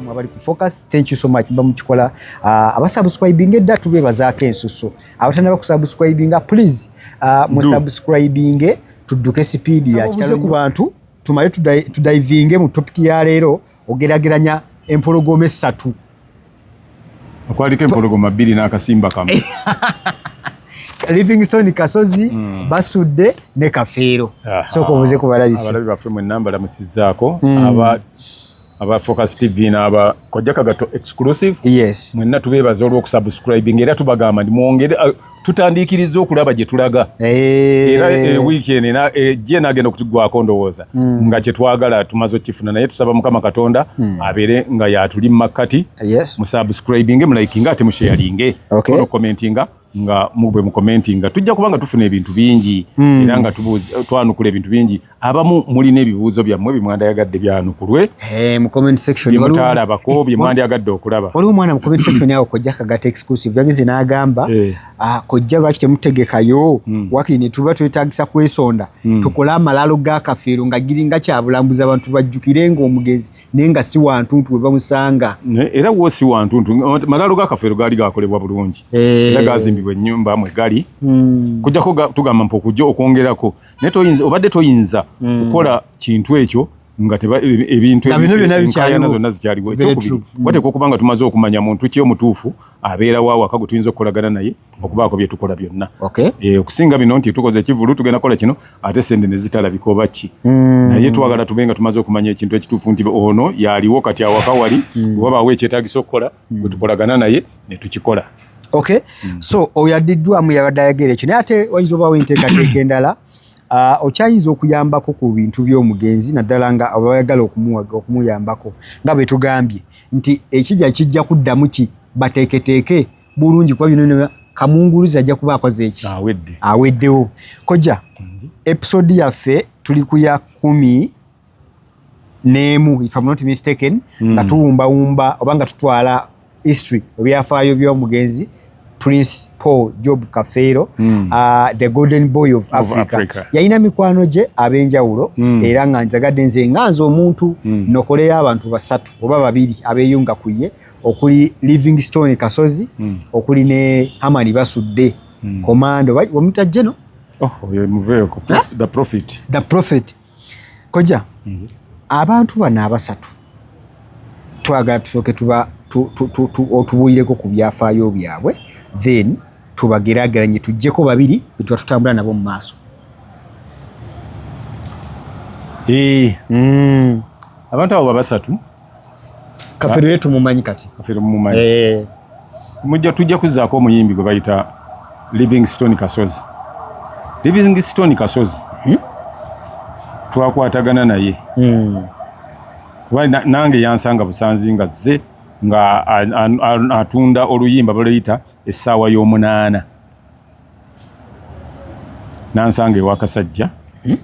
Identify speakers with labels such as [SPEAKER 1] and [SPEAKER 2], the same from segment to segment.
[SPEAKER 1] namwe abali ku focus thank you so much mba mukikola uh, ah, abasubscribinga edda tubebazaako ensusu abatanaba kusubscribinga please uh, ah, musubscribinge tudduke sipiidi yakitalo ku bantu tumale tudivinge mu topic ya leero ogerageranya empologoma essatu okwaliko
[SPEAKER 2] empologoma bbiri n'akasimba kamu
[SPEAKER 1] livingstone kasozi mm. basudde ne kafeero sooka obuze kubalabisiabalabi baffe mwenna
[SPEAKER 2] mbalamusizaako mm. aba aba focus tv n'aba kojja kagato exclusive yes mwenna
[SPEAKER 1] tubeebaza
[SPEAKER 2] olw'okusubscribing era tubagamba ndi mwongere tutandiikirizza okulaba gye tulaga eh. era eh, wiiki eno ena ejja eh, enaagenda okutugwako ndowooza hmm. nga kye twagala tumaze okukifuna naye tusaba mukama katonda hmm. abeere nga yatuli mu makkati musubscribinge mulayikinga ate musheyalinge onokomentinga nga mubwe mukomentinga tujja kuba nga tufuna ebintu bingi hmm. era nga twanukula ebintu bingi abamu mulina ebibuuzo byammwe byemwandayagadde byanukulwe eh,
[SPEAKER 1] mutaalabako
[SPEAKER 2] byemwandyagadde okulaba waliwo omwana mucommentsection
[SPEAKER 1] awo kojja kagata exclusive yagenze n'agamba eh. ah, kojja lwaki temutegekayo hmm. wakiri netuba twetagisa kwesonda hmm. tukole amalaalo gakafeero nga giringa kyabulambuzi abantu bajjukire nga omugenzi naye nga si wantuntu webamusanga era wo si
[SPEAKER 2] wantuntu malaalo gakafeero gaali gakolebwa bulungi eh. era gazimbibwa ennyumba mwe gali hmm. kujjako tugamba mpa okujja okwongerako naye toyinza obadde toyinza hmm. kukola kintu ekyo nga e- ebintu enkayana zonna zikyaliwo ekyokubiri hmm. wateeka okuba nga tumaze okumanya muntu ki omutuufu abeera wa waka gwe tuyinza okukolagana naye okubaako bye tukola byonna eh, okusinga bino nti tukoze ekivulu tugenda kola kino ate sente ne zitalabika oba ki hmm. naye twagala tube nga tumaze okumanya ekintu ekituufu nti ono yaliwo kati awaka wali oba baawo ekyetagisa okukola hmm. gwetukolagana naye netukikola okay hmm.
[SPEAKER 1] so oyo addiddwamu yabadde ayagera ekyo naye ate wayinza obaawo enteekateeka endala ah, okyayinza okuyambako ku bintu by'omugenzi naddala nga abayagala okumuyambako nga bwe tugambye nti ekija kijja kuddamu ki bateeketeeke bulungi kuba bino kamunguluzi ajja kuba akoze eki aweddewo kojja episode yaffe tuli ku ya kumi neemu if I'm not mistaken mm. nga tuwumbawumba oba nga tutwala history ebyafaayo by'omugenzi prince paul job kafeero mm. uh, the golden boy of, of africa, africa. yalina mikwano gye ab'enjawulo mm. era nga njagadde nze nga nze omuntu mm. nokoleyo abantu basatu oba babiri abeyunga ku ye okuli livingstone kasozi mm. okuli ne hamani basudde mm. komando omutajjeno
[SPEAKER 2] oh, koja mhm. abantu bano abasatu twagala tusooke tuba otubuulireko ku byafaayo byabwe then tubagerageranye tujjeko babiri betuba tutambula nabo mu maaso eh. mm. abantu abo babasatu
[SPEAKER 1] kafeero yetu mumanyi kati kafeero mumanyi
[SPEAKER 2] eh mujja tujja kuzako omuyimbi gwe bayita Livingstone Kasozi Livingstone Kasozi hmm? twakwatagana naye hmm. kuba na, nange yansanga busanzi nga ze nga atunda oluyimba baluyita essaawa y'omunaana nansanga ewakasajja hmm?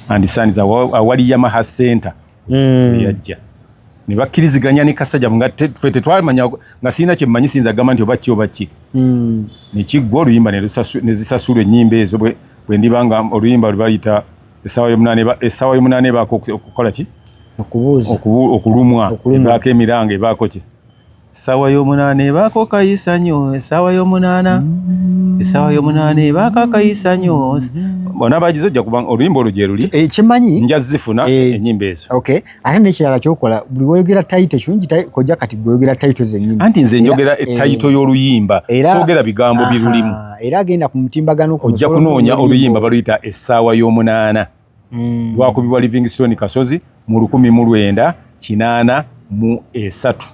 [SPEAKER 2] and sons awali yamaha center mm. yajja ne bakkiriziganya ne kasajja nga fe tetwamanya nga sirina kye mmanyi siyinza gamba nti oba ki oba ki mm. ne kiggwa oluyimba ne zisasulwa ennyimba ezo bwe ndiba nga oluyimba lwe bayita essaawa y'omunaana ebaako okukola ki okubuuza okulumwa ebaako emiranga ebaako ki Essaawa y'omunaana ebaako kayisanyo, essaawa y'omunaana, mm. essaawa y'omunaana ebaako akayisanyo. Bona bagize ojja kubanga oluyimba olwo gye luli. Ekimanyi eh, nja zifuna
[SPEAKER 1] eh,
[SPEAKER 2] ennyimba ezo. Okay. Ate n'ekirala
[SPEAKER 1] ky'okola buli woyogera tayito kirungi kojja kati gweyogera tayito zennyini. Anti nze njogera eh,
[SPEAKER 2] tayito y'oluyimba soogera bigambo birulimu. Era agenda ku
[SPEAKER 1] mutimbagano ojja kunoonya
[SPEAKER 2] oluyimba baluyita essaawa y'omunaana. mm. lwakubibwa livingstone kasozi mu lukumi mu lwenda kinaana mu esatu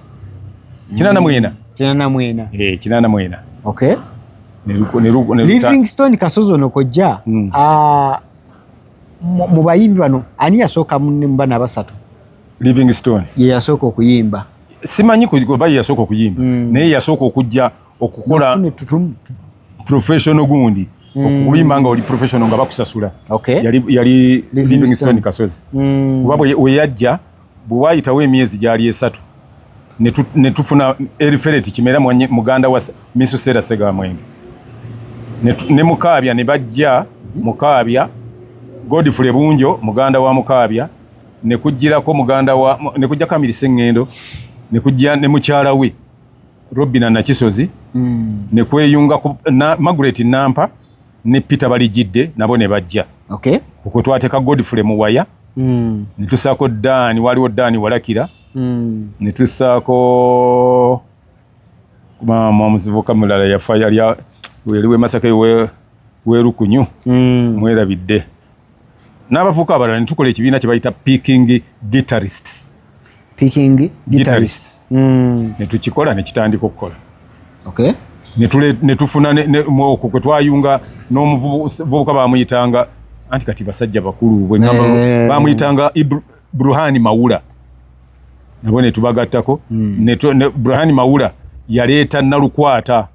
[SPEAKER 2] kinaana mm. mwena kinaana mwena eh, kinaana mwena okay
[SPEAKER 1] livingstone kasozi ono kojja mm. ah, mu bayimbi bano ani yasooka mubana abasatu livingstone
[SPEAKER 2] ye yasooka
[SPEAKER 1] okuyimba simanyi kuba
[SPEAKER 2] ye yasooka okuyimba mm. naye yasooka okujja okukula professional gundi mm. okuyimba nga oli professional nga bakusasula okay. yali, yali Livingstone Kasozi mm. kuba weyajja bwe wayitawo emyezi gyali esatu ne tufuna erifereti kimera muganda wa Misusera Segamwenge ne Mukaabya ne bajja mhm. Mukaabya Godfrey Bunjo muganda wa Mukaabya ne kujjirako muganda wa ne kujja Kamiri Sengendo ne kujja ne mukyala we Robina Nakisozi mm. ne kweyunga ku na, Margaret Nampa ne Peter Balijidde nabo ne bajja okay. kwe
[SPEAKER 1] twateka
[SPEAKER 2] Godfrey Muwaya mm. ne tusaako Dan waliwo Dan Walakira mm. ne tusaako maama omusivuka mulala yafa yali weli we Masaka we werukunyu mm. mwerabidde n'abavuka abalala netukola ekibiina kye bayita picking guitarists picking
[SPEAKER 1] guitarists mm. netukikola
[SPEAKER 2] nekitandika okukola okay. netufuna okwo kwe twayunga n'omuvubuka bamuyitanga anti kati basajja bakulu bwegamba eh. bamuyitanga bruhani mawula nabo netubagattako mm. bruhani mawula yaleeta nalukwata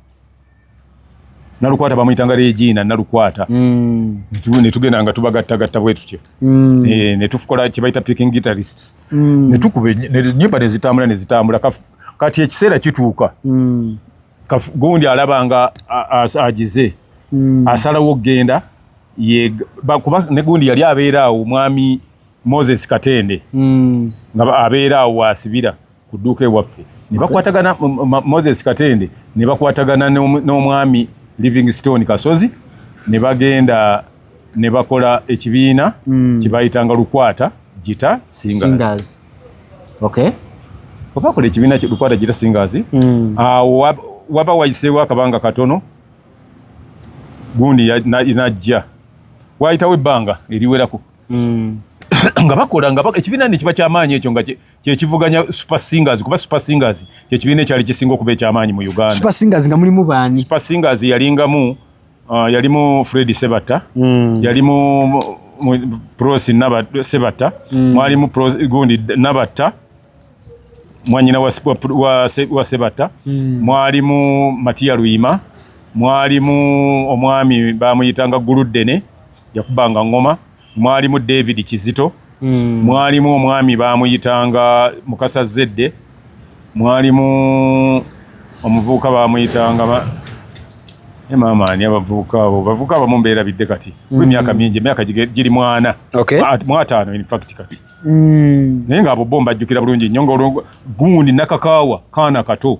[SPEAKER 2] nalukwata bamuyitanga regina nalukwata mm. netugenda nga tubagattagatta bwetutyo mm. eh, netufukola kyebayita picking guitarists mm. netukuba enyumba nezitambula nezitambula kati ekiseera kituuka gundi alaba nga agize asalawo okugenda kuba negundi yali abeera awo mwami moses katende nga abeera awo wasibira ku dduuka ewaffe ne bakwatagana moses katende ne bakwatagana n'omwami livingstone kasozi ne bagenda ne bakola ekibiina mm. kyebayitanga lukwata gita singers
[SPEAKER 1] obakola
[SPEAKER 2] ekibiina lukwata gita singers mm. awo waba wayiseewo akabanga katono gundi najja wayitawo ebbanga eriwerako mm. nga bakola nga ekibiina nekiba kyamaanyi ekyo nga kyekivuganya super singers kuba super singers kyekibiina ekyali kisinga okuba ekyamaanyi mu uganda super singers nga mulimu
[SPEAKER 1] baani super singers yalingamu
[SPEAKER 2] uh, yalimu fredi sebata mm. yalimu prosi naba sebata mm. mwalimu prosi gundi nabata mwanyina wa, wa, wa, wa sebata mm. mwalimu matia luima mwalimu omwami bamuyitanga guluddene yakubanga ngoma mwalimu david kizito mm. mwalimu omwami bamuyitanga mukasa zedde mwalimu omuvubuka bamuyitanga e maama ani abavubuka abo bavubuka abamu mbeera bidde kati mm. emyaka mingi emyaka giri mwana okay. mwataano infact kati mm. naye nga abo bo mbajjukira bulungi nnyo nga gundi nakakaawa kaana kato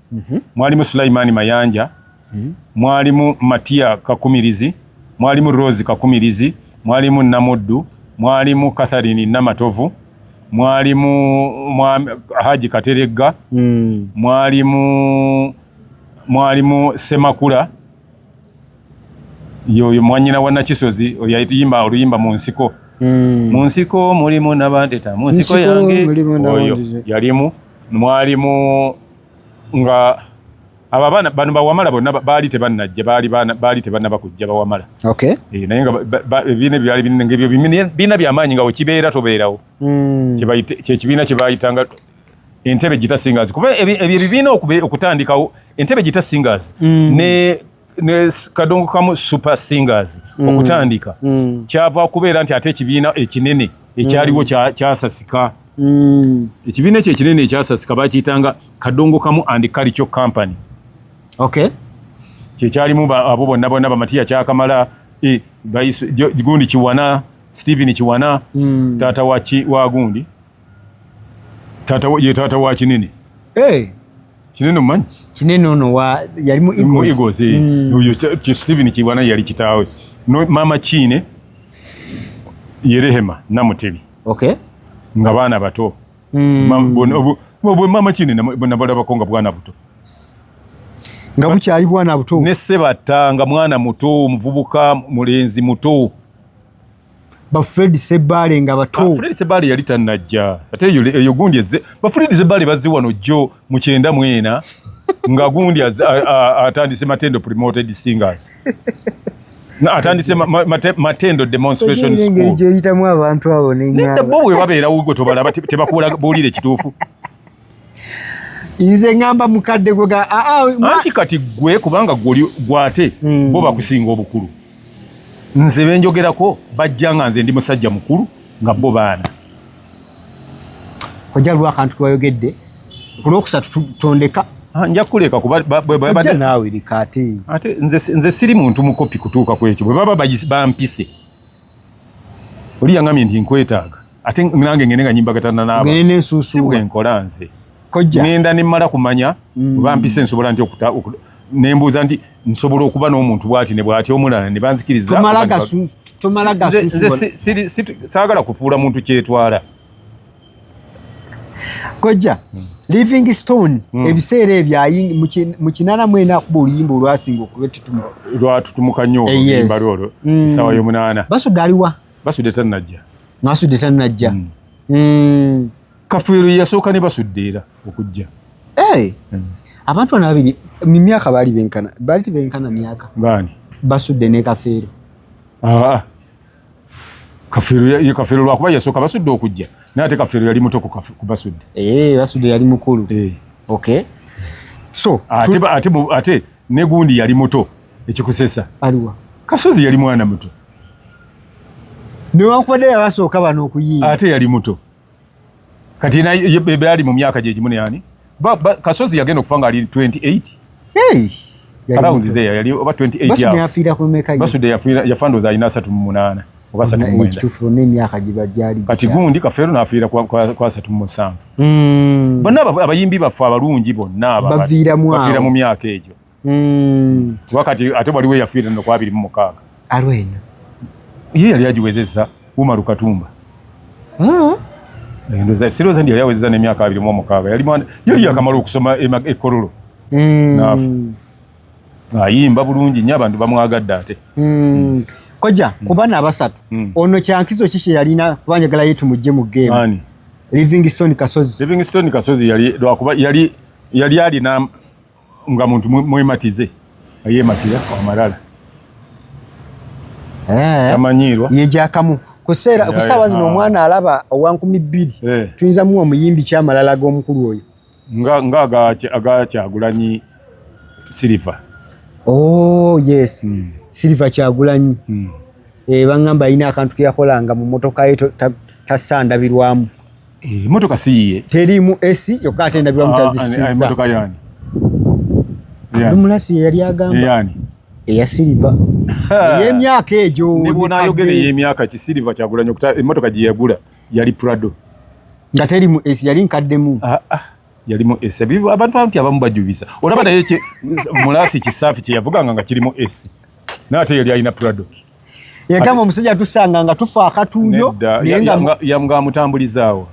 [SPEAKER 2] mhm. mwalimu Sulaimani Mayanja, mhm. mwalimu Matia Kakumirizi, mwalimu Rose Kakumirizi, mwalimu Namuddu, mwalimu Catherine Namatovu, mwalimu Haji Kateregga, mm. mwalimu mwalimu Semakula yoyo mwanyina wa Nakisozi oyo yayimba oluyimba mu nsiko mm. mu nsiko mulimu nabandeta mu nsiko yange oyo yalimu mwalimu nga abo abaana bano bawamala bonna baali tebannajja baali tebannaba kujja bawamala eh, naye nga ebibiina ebyo byali binene ngaebyo bibiina byamaanyi nga wekibeera tobeerawo hmm. kyekibiina kyebayitanga entebe gita singers kuba ebyo ebibiina okutandikawo entebe gita singers hmm. ne ne kadongo kamu super singers mm. okutandika mm. kyava kubeera nti ate ekibiina ekinene ekyaliwo mm. kyasasika mm. ekibiina ekyo ekinene ekyasasika bakiyitanga kadongo kamu and kalico company okay kyekyalimu abo bonna bonna bamatiya kyakamala e, gundi kiwana stephen kiwana mm. taata wa gundi taata ye taata wa kinene eh kinene omanyi kinene ono wa
[SPEAKER 1] yali mu eagles eagles eh.
[SPEAKER 2] mm. uyo ki steven kibwana yali kitawe no mama chine yerehema namutebi okay
[SPEAKER 1] nga bana
[SPEAKER 2] bato mm. mama bono bo mama chine na bona bala bakonga bwana buto
[SPEAKER 1] nga bukyali bwana buto ne sebata nga
[SPEAKER 2] mwana muto muvubuka mulenzi muto
[SPEAKER 1] ba Fred Sebale nga bato. Ah, Fred Sebale yali tanajja.
[SPEAKER 2] Ate yo yo gundi ezze. Ba Fred Sebale bazze wano jo mu kyenda mwena nga gundi atandise matendo promoted singers. Na atandise ma, ma, matendo demonstration school. Ngeri gye yitamu abantu
[SPEAKER 1] abo ne nyaba. Nenda bo we
[SPEAKER 2] babeera ugo tobala tebakuula bulire kitufu. nze
[SPEAKER 1] ngamba mukadde gwe ah, ah, anti kati
[SPEAKER 2] gwe kubanga gwoli gwate mm. bo bakusinga obukulu nze benjogerako bajja nga nze ndi musajja mukulu nga bo baana
[SPEAKER 1] kojja lwa akantu kewayogedde kulwokusatu tutondeka ah, nja kuleka
[SPEAKER 2] kubabadde naawe
[SPEAKER 1] likaate ate nze
[SPEAKER 2] siri muntu mukopi kutuuka kwekyo bwe baba bampise oli yangambye nti nkwetaaga ate nange ngende nga nyimbagatana naabwenkola
[SPEAKER 1] nze
[SPEAKER 2] ngenda
[SPEAKER 1] nemmala kumanya
[SPEAKER 2] mm. oba mpise nsobola nti okuta nembuuza nti nsobola okuba n'omuntu bwati ne bwati omulala ne
[SPEAKER 1] banzikirizasagala
[SPEAKER 2] kufuula muntu kyetwala
[SPEAKER 1] kojja living stone mm. ebiseera ebyo mu kinana mwena akuba oluyimba olwasinga okubetutuma lwatutumuka
[SPEAKER 2] nnyo eh, oluyimba lwolwo mm. esawa yomunaana basudde aliwa
[SPEAKER 1] basudde tanajja
[SPEAKER 2] nasudde tanajja
[SPEAKER 1] mm. mm. kafuiro
[SPEAKER 2] yasooka ne basudde era okujja hey. Eh.
[SPEAKER 1] mm. abantu bana babiri mu myaka baali benkana baali tebenkana myaka baani basudde
[SPEAKER 2] ne
[SPEAKER 1] kafeero ah.
[SPEAKER 2] kafiru ye kafiru lwa kuba yasoka basudde okujja naye ate kafiru yali muto ku basudde eh basudde yali
[SPEAKER 1] mukulu eh okay so ate ate ate
[SPEAKER 2] ne gundi yali muto ekikusesa aliwa
[SPEAKER 1] kasozi yali mwana
[SPEAKER 2] muto ne
[SPEAKER 1] wankubadde yabasooka bano okuyiiya ate yali muto
[SPEAKER 2] kati na yali mu myaka gye gimu ne yani ba, ba kasozi yagenda okufa nga ali 28 hey around there yali oba 28 basu ya afira ku meka
[SPEAKER 1] basu de afira ya fando
[SPEAKER 2] za ina 3 mu 8 oba 3 mu 8 tufu ne myaka
[SPEAKER 1] giba jali kati gundi
[SPEAKER 2] ka fero na afira kwa kwa, kwa 3 mu 7 mm bonna abayimbi bafa abalungi bonna bavira mu afira mu myaka ejo mm. kuba kati ate waliwo eyafiira no kwabiri mu mukaaga alwena
[SPEAKER 1] ye
[SPEAKER 2] yali agiwezezza umaru katumba ah. endoza siroza ndi yali awezezza n'emyaka abiri mu omukaaga yali mwana yali yakamala okusoma ekololo mm. naafu ayimba bulungi nnyo abantu bamwagadde ate mm. koja
[SPEAKER 1] mm. kubana abasatu mm. ono kyankizo kiki yalina kubanjagala yetu mujje mu game livingstone kasozi livingstone kasozi yali lwakuba
[SPEAKER 2] yali yali alina nga muntu mwematize ayematira amalala eh. amanyiirwa yejakamu
[SPEAKER 1] kuseera kusaawa zino omwana alaba owa nkumi bbiri eh. tuyinza muwa omuyimbi kyamalala ag'omukulu oyo nga nga
[SPEAKER 2] aga kyagulanyi silver oh
[SPEAKER 1] yes mm. silver kyagulanyi mm. e, eh, bangamba alina akantu keyakolanga mu motoka ye tasandabirwamu ta Eh,
[SPEAKER 2] motoka si yiye. Terimu esi
[SPEAKER 1] kyokka ate ndabira ah, mutazisiza. Ah, motoka yani.
[SPEAKER 2] Abdumulasi
[SPEAKER 1] yali agamba. Yani. Eya
[SPEAKER 2] silver.
[SPEAKER 1] Ey'emyaka egyo. Nebona ayogera ey'emyaka
[SPEAKER 2] ki silver kyagula nyo kuta emotoka gye yagula yali Prado. Nga terimu
[SPEAKER 1] esi yali nkaddemu. Ah ah. Yalimu
[SPEAKER 2] esi. Abantu abantu abamu bajubisa. Olaba naye mulasi kisafi kye yavuganga nga kirimu esi. N'ate yali alina Prado. yagamba
[SPEAKER 1] omusajja atusanga nga tufa akatuuyo yamga
[SPEAKER 2] amutambulizaawo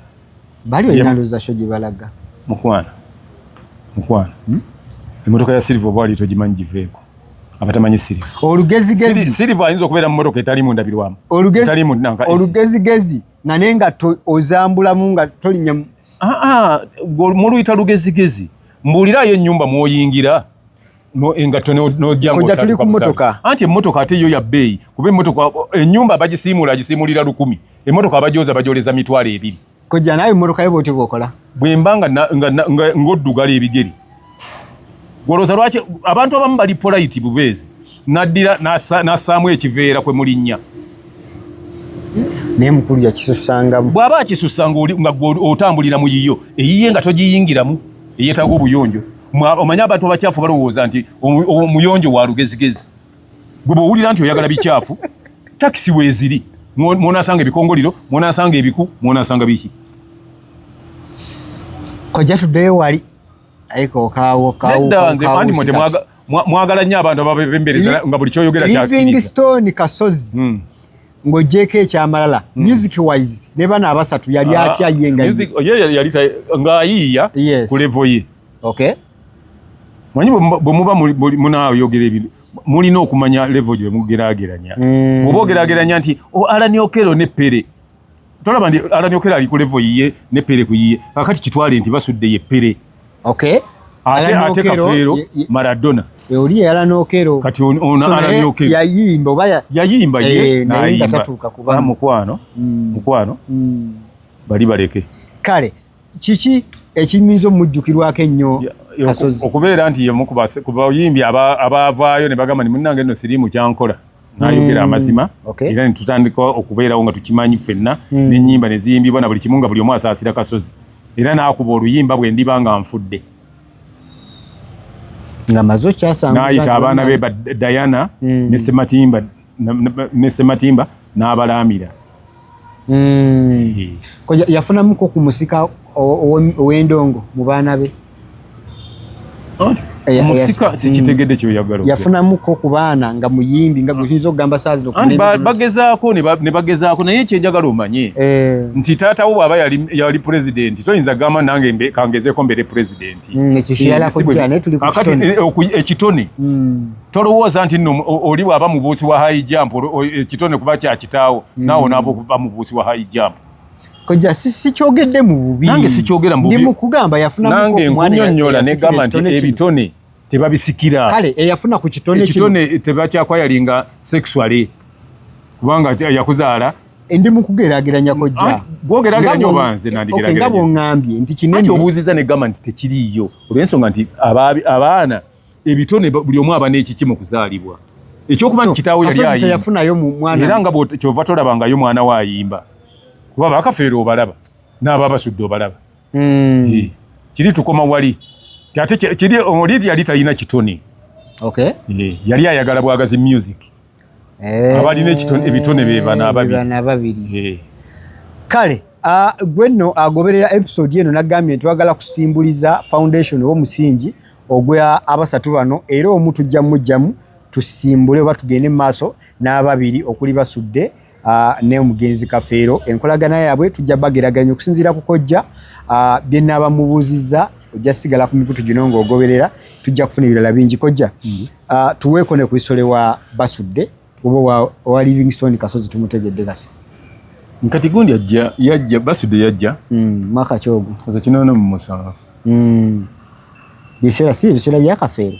[SPEAKER 2] bali olina
[SPEAKER 1] luzasho gye balaga mukwana
[SPEAKER 2] mukwana hmm? emotoka ya silva oba wali togimanyi giveeko abatamanyi silva olugezigezi silva
[SPEAKER 1] ayinza okubeera mu
[SPEAKER 2] motoka etalimu ndabirwamu olugezigezi
[SPEAKER 1] nga naye nga ozambulamu nga tolinya ah, ah,
[SPEAKER 2] muluyita lugezigezi mbuulirayo ennyumba mwoyingira no engato no no jango koja
[SPEAKER 1] tuli ku motoka anti motoka ate yo ya
[SPEAKER 2] bay kube motoka enyumba eh, bajisimula ajisimulira lukumi e motoka bajoza bajoleza mitwale ebiri koja nayo motoka
[SPEAKER 1] yebo ti bokola bwembanga nga, nga,
[SPEAKER 2] nga ngodugala ebigeri goloza lwaki abantu abamu bali polite bubezi nadira nasa nasamu ekiveera kwe mulinya
[SPEAKER 1] naye mukulu yakisusanga bwaba akisusanga
[SPEAKER 2] nga otambulira mu yiyo eyiye nga tojiyingiramu eyetaga obuyonjo omanyi abantu abakyafu balowooza nti omuyonjo wa lugezigezi gwe bwowulira nti oyagala bikyafu takisi weeziri mwonasanga ebikongoliro mwonasanga ebiku mwonasanga biki
[SPEAKER 1] koja tuddeyo wali
[SPEAKER 2] mwagala nnyo abantu ababembereza nga buli kyoyogera livingstone
[SPEAKER 1] kasozi hmm. ng'ogyeko ekyamalala hmm. music wise ne bana abasatu yali ah, atya ye nga ng'ayiiya
[SPEAKER 2] ku levo ye manyi bwe muba munaayogera ebintu mulina okumanya levo gye mugerageranya hmm. oba ogerageranya nti oh, alani okero ne pere tolaba nti alani okero ali ku levo yiye ne pere ku yiye kakati kitwale nti basudde ye pere okay ate ate kafeero maradona e, oli yala
[SPEAKER 1] nokero kati ono ala
[SPEAKER 2] nokero yayimba oba
[SPEAKER 1] yayimba ye eh,
[SPEAKER 2] naye nga tatuuka kuba
[SPEAKER 1] mukwano mm.
[SPEAKER 2] mukwano
[SPEAKER 1] mm. bali
[SPEAKER 2] baleke
[SPEAKER 1] kale
[SPEAKER 2] kiki
[SPEAKER 1] ekiyinza omujjukirwako ennyo kasozi okubeera nti yemu
[SPEAKER 2] kubayimbi abaavaayo ne bagamba ni munnange nno siriimu kyankola nayogera mm. amazima era netutandika okubeerawo nga tukimanyi ffenna mm. nenyimba neziyimbibwa na buli kimu nga buli omu asaasira kasozi era nakuba oluyimba bwe ndiba nga nfudde
[SPEAKER 1] nayita abaana be
[SPEAKER 2] diana mm. ne sematimba n'abalaamira
[SPEAKER 1] mm. yafunamuko ku musika ow'endongo mu baana be
[SPEAKER 2] omusika sikitegedde kyoyagala yafunamuko ku baana
[SPEAKER 1] nga muyimbi nga guyinza okugamba saazibagezaako
[SPEAKER 2] ne bagezaako naye kyenjagala omanye eh. nti taata wo bwaba yali pulezidenti toyinza gamba nange kangezeeko mbeere pulezidenti mm, ekitone eh, mm. tolowooza nti no oli bwaba mubuusi wa high jump ekitone eh, kuba kyakitaawo mm. naawo naaba okuba mubuusi wa high jump koja
[SPEAKER 1] sikyogedde mu bubi nange sikyogera mububi ndi
[SPEAKER 2] mukugamba yafuna
[SPEAKER 1] nange nkunyonyola
[SPEAKER 2] ne gamba nti ebitone tebabisikira kale eyafuna ku
[SPEAKER 1] kitone kino kitone tebakyakwayalinga
[SPEAKER 2] sexually kubanga yakuzaala eh, ndi
[SPEAKER 1] mukugerageranya kojja ah, gwogerageranya obanze
[SPEAKER 2] nandigerageranya nga bwongambye nti
[SPEAKER 1] kinene ati obuuziza ne gamba nti
[SPEAKER 2] tekiriiyo olw'ensonga nti abaana ebitone buli omu aba n'ekiki mu kuzaalibwa ekyokuba nti kitaawo yali ayimbayafunayo mu mwana era nga kyova tolabangayo mwana we ayimba kuba bakafeera obalaba n'aba basudde obalaba hmm. kiri tukoma wali ate kiri oli yali talina kitone yali ayagala bwagazi music eh. abalina ebitone bebana ababiri kale
[SPEAKER 1] gwe nno agoberera episode eno nagambye nti wagala kusimbuliza foundation oba omusingi ogwa abasatu bano era omu tujja mujjamu tusimbule oba tugende mu maaso n'ababiri okuli basudde ne omugenzi kafeero enkolagana yaabwe tujja bageraganya okusinziira ku kojja bye naaba mubuuzizza ojja sigala ku mikutu gino ng'ogoberera tujja kufuna ebirala bingi kojja mm-hmm. tuweeko ne ku isole wa basudde Obo wa, wa Livingstone Kasozi tumutegedde kati. Nkati
[SPEAKER 2] gundi ajja yajja basude yajja. Mm, maka chogo.
[SPEAKER 1] Oza kinono mu musafu.
[SPEAKER 2] Mm. Bisera
[SPEAKER 1] si bisera bya kafeero.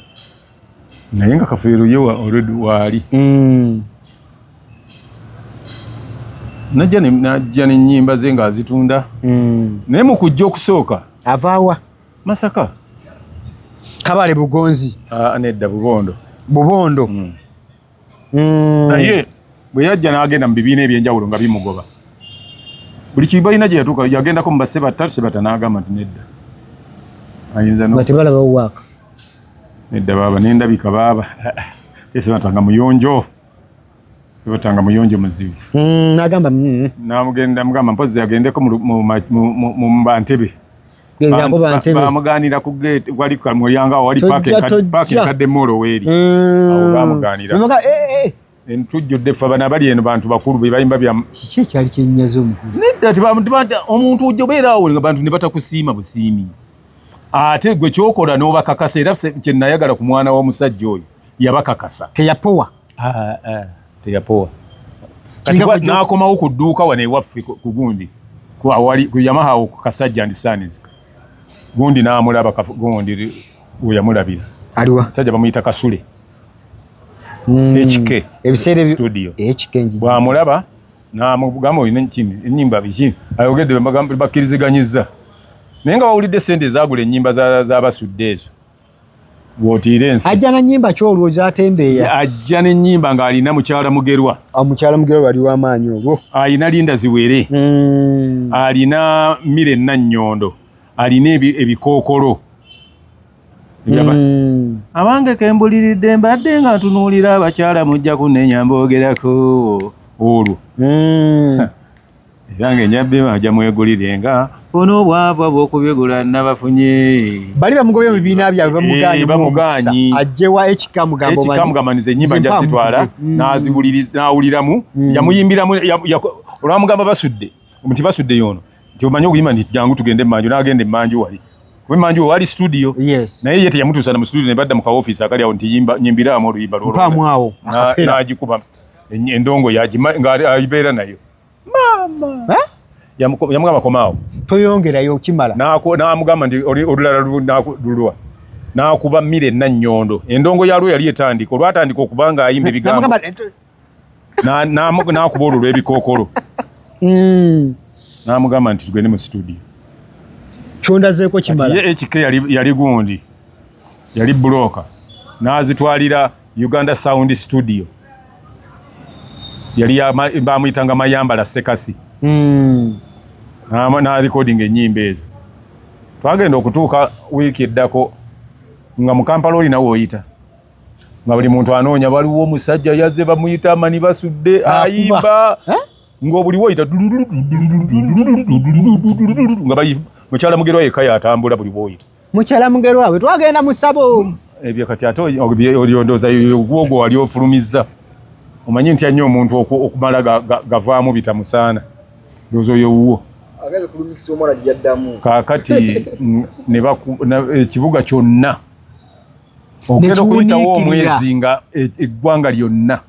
[SPEAKER 2] Naye nga kafeero ye wa already wali. Mm. Najja ne najja ne nyimba ze nga azitunda. Mm. Naye mu kujja okusooka. Avawa.
[SPEAKER 1] Masaka. Kabale Bugonzi. Ah, uh, nedda Bubondo.
[SPEAKER 2] Bubondo.
[SPEAKER 1] Mm. Mm.
[SPEAKER 2] Naye bwe yajja n'agenda mu bibiina eby'enjawulo nga bimugoba. Buli kibalina gye yatuuka yagendako mu basse batta sebata n'agamba nti nedda. Ayinza no. Bati balaba uwaka.
[SPEAKER 1] Nedda
[SPEAKER 2] baba nendabika baba. Sebata nga muyonjo. Sibatanga muyonjo muzibu. Mm, nagamba mm.
[SPEAKER 1] Namugenda
[SPEAKER 2] mugamba mpozi agendeko mu mu mu mbantebe. bamuganira ku gate wali ku mulyango awo wali parking parking kadde molo weri mm. awo bamuganira mumaka eh eh entujjo defa bana bali eno bantu bakulu be bayimba bya kiki kyali kyenyazo
[SPEAKER 1] mukulu nedda tibamuntu bantu
[SPEAKER 2] omuntu ujjo beera awo nga bantu ne batakusiima busiimi ate gwe kyokola n'obakakasa era kye nayagala ku mwana wa musajja oyo yabakakasa teyapowa
[SPEAKER 1] ah, ah, teyapowa
[SPEAKER 2] nakomawo ku dduuka wano ewaffe ku gundi ku yamaha ku kasajja ndi sanis gundi namulaba gundi weyamulabira aliwa sajja
[SPEAKER 1] bamuyita kasule
[SPEAKER 2] HK ebiseera studio
[SPEAKER 1] HK
[SPEAKER 2] nji bwamulaba na mugamba oyina nkini enyimba biki ayogedde bamagamba bakiriziganyiza naye nga wawulidde sente ezagula enyimba za za basudde ezo wotiira ensi ajja na nyimba ki olwo
[SPEAKER 1] zatembeeya ajja ne nyimba
[SPEAKER 2] ng'alina mukyala mugerwa ah, mukyala mugerwa wali
[SPEAKER 1] wamaanyi olwo alina linda ziwere
[SPEAKER 2] hmm. alina mire nannyondo alina ebikookolo hmm. abange kembuliridde mbadde nga ntunuulira abakyala mujja kunenya mbogerako olwo hmm. era ng'enjabbi emu ajja mwegulire nga bona obwavu abw'okubigula nabafunye bali bamugobye mu
[SPEAKER 1] bibiina byabwe bamugaanyi eh, bamugaanyi ajjewa ekika mugambo ekika mugamba nize ennyimba
[SPEAKER 2] nja zitwala mm. n'aziwuliriza n'awuliramu mm. yamuyimbiramu olwamugamba basudde nti basudde yoono nti omanyi okuyimba nti jangu tugende emanju n'agenda emanju wali kuba emanju wali studio naye ye teyamutuusa na mu studio ne badda mu ka ofiisi akali awo nti nyimbiraamu oluyimba lwolwo
[SPEAKER 1] n'agikuba
[SPEAKER 2] endongo yagibeera nayo mama eh? yamugamba komaawo toyongerayo okimala
[SPEAKER 1] namugamba nti
[SPEAKER 2] olulala lulwa nakuba mire nannyondo endongo yalwo yali etandika olwatandika okuba nga ayimba ebigambo nakuba olwo lwebikookolo hmm. namugamba nti tugende mu situdio
[SPEAKER 1] kyondazeeko kimala ekike yali
[SPEAKER 2] gundi yali bulooka n'azitwalira Uganda Sound Studio yali bamuyitanga Mayambala Sekasi mm. n'alikodinga ennyimba ezo twagenda okutuuka wiiki eddako nga mu Kampala oli nawe oyita nga buli muntu anoonya waliwo omusajja yazze bamuyita amani basudde ayimba ng'obuliwo oyita nga mukyala mugerwa yekka yatambula buli bwoyita Mukyala Mugerwa we
[SPEAKER 1] twagenda mu sabo. Ebyo eh, kati ate
[SPEAKER 2] olyondooza ogwo wali ofulumizza. Omanyi ntya nnyo omuntu okumala gavaamu bitamusaana. Ndowooza oyo wuwo. Ageze kulumikisa
[SPEAKER 1] omwana gye yaddamu. Kaakati
[SPEAKER 2] ekibuga kyonna ogenda okuyitawo omwezi nga e, eggwanga lyonna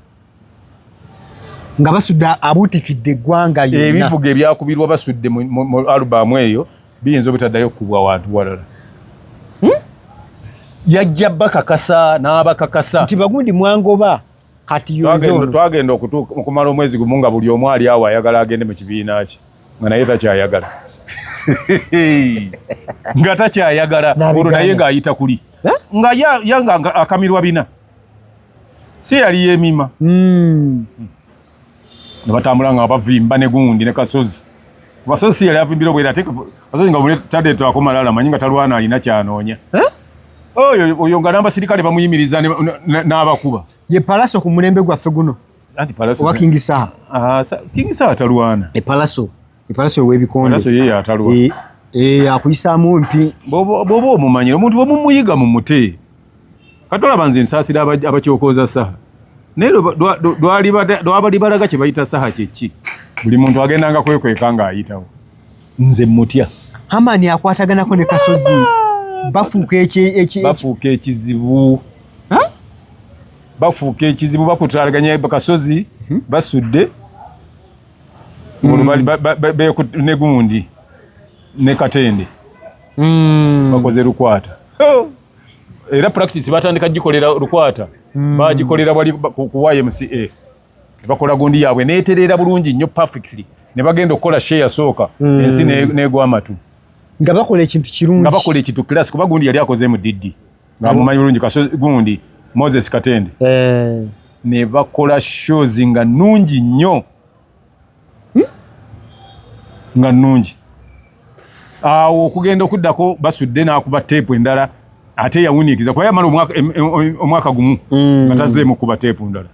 [SPEAKER 1] nga basudde abuutikidde eggwanga yonna. Ebivuga ebyakubirwa
[SPEAKER 2] basudde mu alubamu eyo biyinza obutaddayo okukubwa wantu walala. Hmm? Yajja bakakasa n'abakakasa nti Bagundi mwangoba
[SPEAKER 1] kati yoze ono. Twagenda okutuuka
[SPEAKER 2] okumala omwezi gumu nga buli omu ali awo ayagala agende mu kibiina kye nga naye takyayagala nga takyayagala olwo naye ng'ayita kuli eh? nga yanga akamirwa bina. si yali yemima hmm. ne batambula nga bavimba ne gundi ne kasozi basozi yali avimbira obwera ate kasozi nga bule tade to akoma lala manyi nga talwana alina kyanoonya oyo oyo nga namba sirikale bamuyimiriza n'abakuba ye palaso ku
[SPEAKER 1] mulembe gwaffe guno anti palaso owa
[SPEAKER 2] kingi saha ah,
[SPEAKER 1] kingi saha
[SPEAKER 2] talwana e palaso
[SPEAKER 1] ipalaso webikonde ipalaso yeye atalwa
[SPEAKER 2] e, e akuyisa
[SPEAKER 1] mumpi bobo bobo mumanyira
[SPEAKER 2] omuntu bomu muyiga mu mute katola banze nsasira abakyokoza saha nero dwali dwabali balaga kye bayita saha kyeki buli muntu agenda nga kwekweka nga ayitawo nze mutya hamani akwatagana
[SPEAKER 1] ko ne kasozi bafuka eche eche bafuka ekizibu ha bafuka ekizibu bakutraganya kasozi hmm? basudde mm. ne gundi ne katende mm. bakoze lukwata oh. era practice batandika gikolera lukwata mm. bagikolera wali ku YMCA bakola gundi yaabwe neetereera bulungi nnyo perfectly ne bagenda okukola share sooka mm. ensi negwa amatu nga bakola ekintu kirungi nga bakola ekintu class kuba gundi
[SPEAKER 2] yali akoze mu diddi nga mumanyi bulungi kasozi gundi moses katende eh. ne bakola shows nga nungi nnyo hmm? nga nungi awo okugenda okuddako basudde n'akuba teepu endala ate yawuniikiza kuba yamala omwaka gumu hmm. nga tazeemu kuba teepu ndala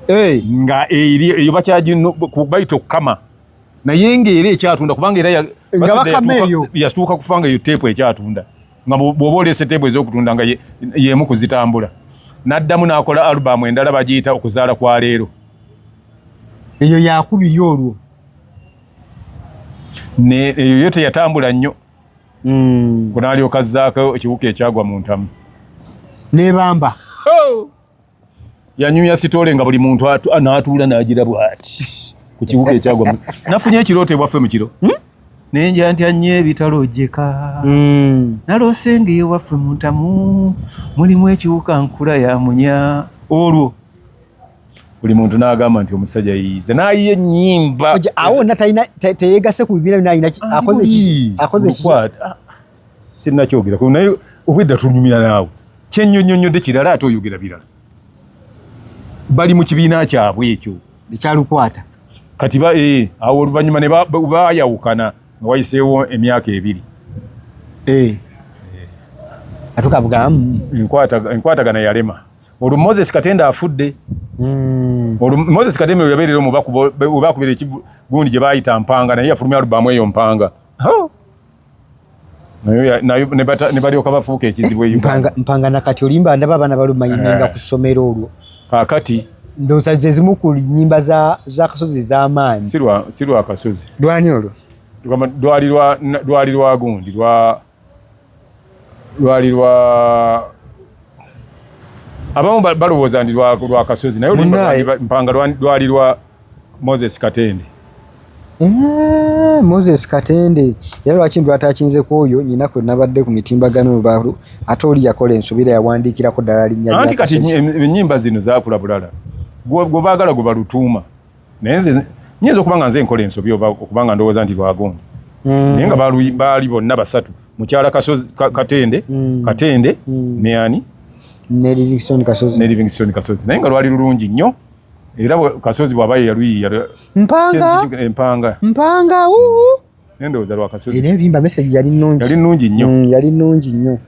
[SPEAKER 2] eh. nga eyo bakyagino bayita okukama naye ngaera ekyatunda kubanga era yasituuka kufanga eyo teepu ekyatunda nga bwoba oleese teebu ez'okutunda nga y'emu ku zitambula n'addamu n'akola alubamu endala bagiyita okuzaala kwa leero
[SPEAKER 1] eyo yakubiri olwo
[SPEAKER 2] eyo yo teyatambula nnyo hmm. kunaalyoka zzaako ekiwuka ekyagwa mu ntamu nebamba
[SPEAKER 1] oh!
[SPEAKER 2] yanyumya sitole nga buli muntu n'atuula n'agira bwati ku kibuga ekyagwa nafunye ekirooto ebwaffe mu kiro hmm? nenja ntya nnyo ebitalo ojjeka hmm. naloose nga ewaffe mu ntamu mulimu ekiwuka nkula ya munya olwo buli muntu n'agamba nti omusajja yiyize n'ayiye ennyimba awo na
[SPEAKER 1] teyegase ku bibiina bino alina akoze ki
[SPEAKER 2] sinnakyogerako naye obwedda tunyumira naawe kyenyonyonyodde kirala ate oyogera birala bali mu kibiina kyabwe ekyo ekyalukwata
[SPEAKER 1] kati
[SPEAKER 2] eh, awo oluvannyuma ne bayawukana nga wayiseewo emyaka ebiri eh.
[SPEAKER 1] atukabugamu
[SPEAKER 2] enkwatagana yalema olwo moses katenda afudde hmm. olwo moses katenda yabeerera omubakubeera ekigundi gye baayita mpanga naye yafulumya alubamu eyo mpanga nebalyoka bafuuka ekizibu e mpanga nakati olimba
[SPEAKER 1] ndaba abaana balumanyimenga eh. ku ssomero olwo kakati
[SPEAKER 2] ndowooza zezimu
[SPEAKER 1] ku nyimba zakasozi ez'amaanyi si lwakasozi
[SPEAKER 2] lwani olwo lwali lwagundi lwali lwa abamu balowooza ndi lwakasozi naye mpanga lwali lwa Moses Katende. Eee, eh,
[SPEAKER 1] Moses Katende era lwaki ndu atakinze ku oyo nyina kwe nabadde ku mitimbagano baru ate oli yakola ensubira yawandiikira ko dala linya lya anti kati enyimba
[SPEAKER 2] zino zakula bulala gwo bagala gwo balutuma naye nze nyinza okuba nga nze nkola ensobi oba okuba nga ndowooza nti lwagundi mm. naye nga baali bonna basatu mukyala kasozi katende mm. katende mm. ne ani ne livingstone
[SPEAKER 1] kasozi ne livingstone kasozi naye nga lwali lulungi
[SPEAKER 2] nnyo era kasozi bwaba yeyaluyiya mpanga empanga eh, mpanga uhu endowooza lwa kasozi era ebimba message yali
[SPEAKER 1] nnungi yali nnungi nnyo mm, yali nnungi nnyo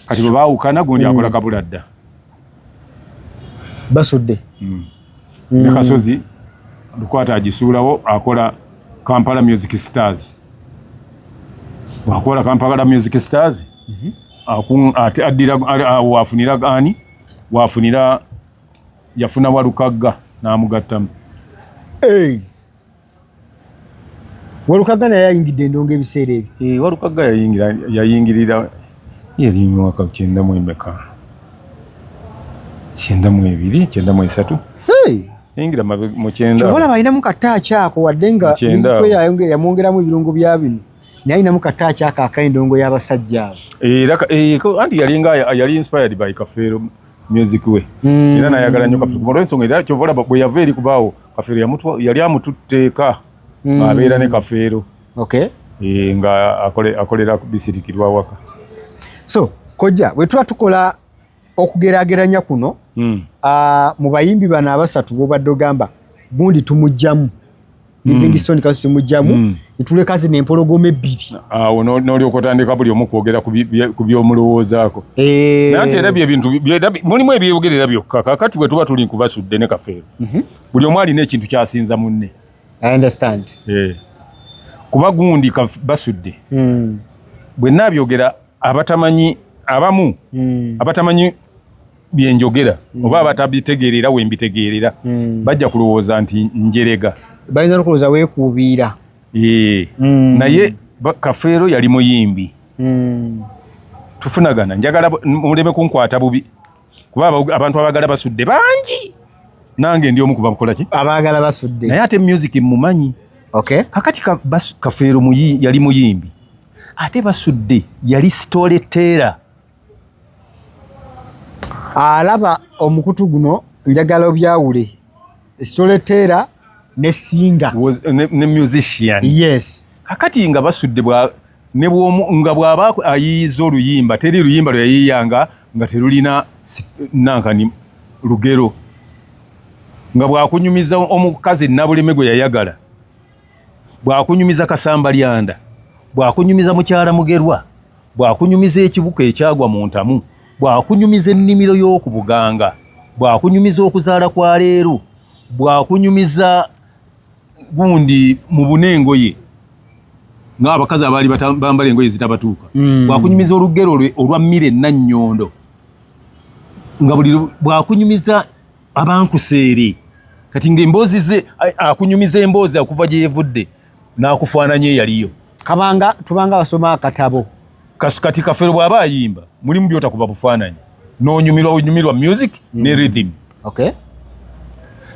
[SPEAKER 1] kati
[SPEAKER 2] bwe baawukana gundi akola mm. kabula dda
[SPEAKER 1] basudde mm.
[SPEAKER 2] ne kasozi lukwata agisuulawo akola kampala music stars wakola kampala music stars mhm. addira wafunira ani wafunira yafuna walukagga n'amugattamu hey.
[SPEAKER 1] walukagga naye yayingidde endongo ebiseera ebyo hey, eh, walukagga
[SPEAKER 2] yayingirira yali mwaka kyenda mu emeka kyenda mu ebiri kyenda mu esatu hey. yayingira mu kyenda kyobola balinamu kataaki
[SPEAKER 1] ako wadde nga mizikwe yamwongeramu ebirungo bya bino naye alinamu kataaki ako ak'endongo y'abasajja abo eh, eh,
[SPEAKER 2] anti yali nga yali inspired by kafeero music we mm. era nayagala nyo kafiru kumara ensonga era kyo vola bwe yava eri kubaawo kafiru yamutwa yali amututteeka mm. abeera ne kafeero okay e, nga akole akolera ku bisirikirwa waka so koja bwe tuba
[SPEAKER 1] tukola okugerageranya kuno mm. uh, mu bayimbi bano abasatu bobadde ogamba gundi tumujjamu mm. livingstone kaso kimujjamu mm. netuleka zino empologoma ebbiri awo nolyoka
[SPEAKER 2] otandika buli omu kwogera ku byomulowoozaako eh. naye nti era byebintu mulimu ebyeyogerera byokka kakati bwe tuba tuli nkubasudde ne kafeero mhm. buli omu alina ekintu kyasinza munne eh. kuba gundi basudde mm. bwe nabyogera abatamanyi abamu mm. abatamanyi byenjogera mm. oba abatabitegeerera we mbitegeerera mm. bajja kulowooza nti njerega bayinza nokulowooza
[SPEAKER 1] weekuubiira ee mm.
[SPEAKER 2] naye kafeero yali muyimbi mm. tufunagana njagala muleme kunkwata bubi kuba abantu abagala basudde bangi nange ndi omu kubakola ki abagala basudde naye
[SPEAKER 1] ate music
[SPEAKER 2] mumanyi okay. kakati ka, kafeero muyi, yali muyimbi ate basudde yali story teller alaba omukutu guno njagala obyawule storyteller ne singer was uh, ne, ne musician yes kakati nga basudde bwa ne bwomu nga bwaba ayiyiza oluyimba teri luyimba lwe yayiyanga nga terulina nankani lugero nga bwakunyumiza omukazi nabuleme gwe yayagala bwakunyumiza kasamba lyanda bwakunyumiza mukyala mugerwa bwakunyumiza ekibuka ekyagwa mu ntamu bwakunyumiza ennimiro y'oku buganga bwakunyumiza okuzaala kwa leero bwakunyumiza gundi mu buna engoye ng'abakazi abaali bambala engoye zitabatuuka mm. bwakunyumiza olugero lwe olwa mmire nannyondo nga buli bwakunyumiza abankuseere kati ng'emboozi ze akunyumiza emboozi akuva gye yevudde n'akufaananya eyaliyo kabanga tubanga basoma akatabo kati kafero bw'aba ayimba mulimu byotakuba bufaananyi n'onyumirwa onyumirwa music ne mm. rhythm okay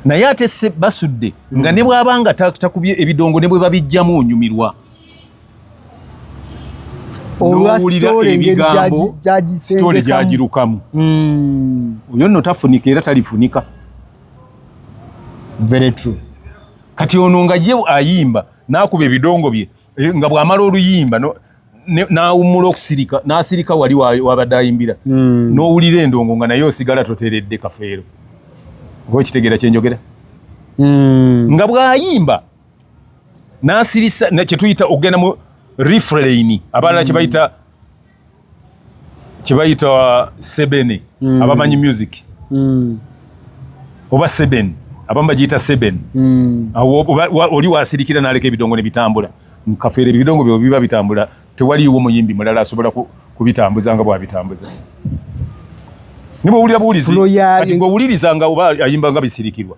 [SPEAKER 2] naye ate basudde nga mm. ne bw'aba nga takubye ebidongo ne bwe babijjamu onyumirwa olwasita olengeri gyagisitole gyagirukamu hmm. oyo nno tafunika era talifunika
[SPEAKER 1] very true kati ono
[SPEAKER 2] nga ye ayimba nakuba ebidongo bye eh, nga bwamala oluyimba nawumula okusirika nasirika wali wabadde ayimbira hmm. nowulira endongo nga naye osigala toteredde kafeero oba ekitegera kyenjogera hmm. nga bwayimba nasirisa kyetuyita okugenda mu refrain abalala kyebayita mm. kyebayita uh, sebene mm. abamanyi music mm. oba seben abamu bagiyita seben mm. oli wasirikira naleka ebidongo nebitambula mukafeera ebidongo byo biba bitambula tewaliiwo muyimbi mulala asobola kubitambuza nga bwabitambuza nibwewulira buwulizi owuliriza nga oba ayimba nga bisirikirwa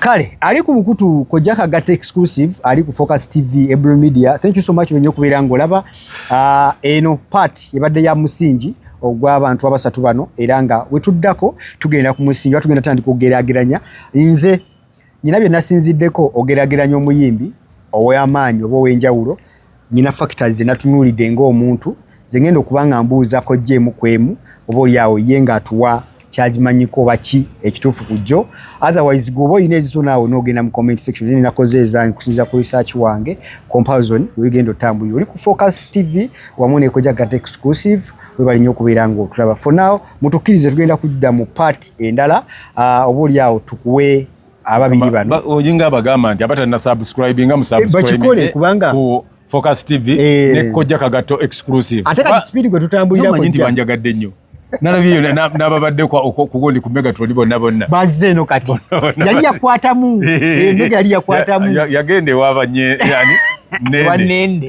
[SPEAKER 1] kale ali ku bukutu kojja kagata exclusive ali ku focus tv ebro media thank you so much wenye okubeera ngolaba uh, ah, eno part ebadde ya musingi ogw'abantu abasatu bano era nga wetuddako tugenda ku musingi tugenda tandika okugerageranya nze nyina bye nasinziddeko ogerageranya omuyimbi ow'amaanyi oba ow'enjawulo nyina factors ze natunulidde ng'omuntu ze ngenda okuba nga mbuuzako jjeemu ku emu oba oli awo ye ng'atuwa kyagimanyiko oba ki ekituufu ku jjo otherwise gweoba olina ezizo naawe n'ogenda mu comment section naye nakoze ezange kusinza ku research wange comparison wegenda otambulira oli ku focus tv wamu nekoja gat exclusive webali nnyo okubeera ng'otulaba for now mutukkirize tugenda kudda mu part endala ah, oba oli awo tukuwe ababiri bano oyinga abagamba nti
[SPEAKER 2] abatalina subscribing nga musubscribing eh, kubanga
[SPEAKER 1] Focus
[SPEAKER 2] TV eh. ne kojja kagato exclusive ate ka speed gwe
[SPEAKER 1] tutambulira ko nti banjagadde nnyo
[SPEAKER 2] nalabye yona nababadde kugundi ku megatron bonna bonna bazze eno kati
[SPEAKER 1] yali yakwatamu eh, mega yali yakwatamu yagenda
[SPEAKER 2] ewabanye yani nende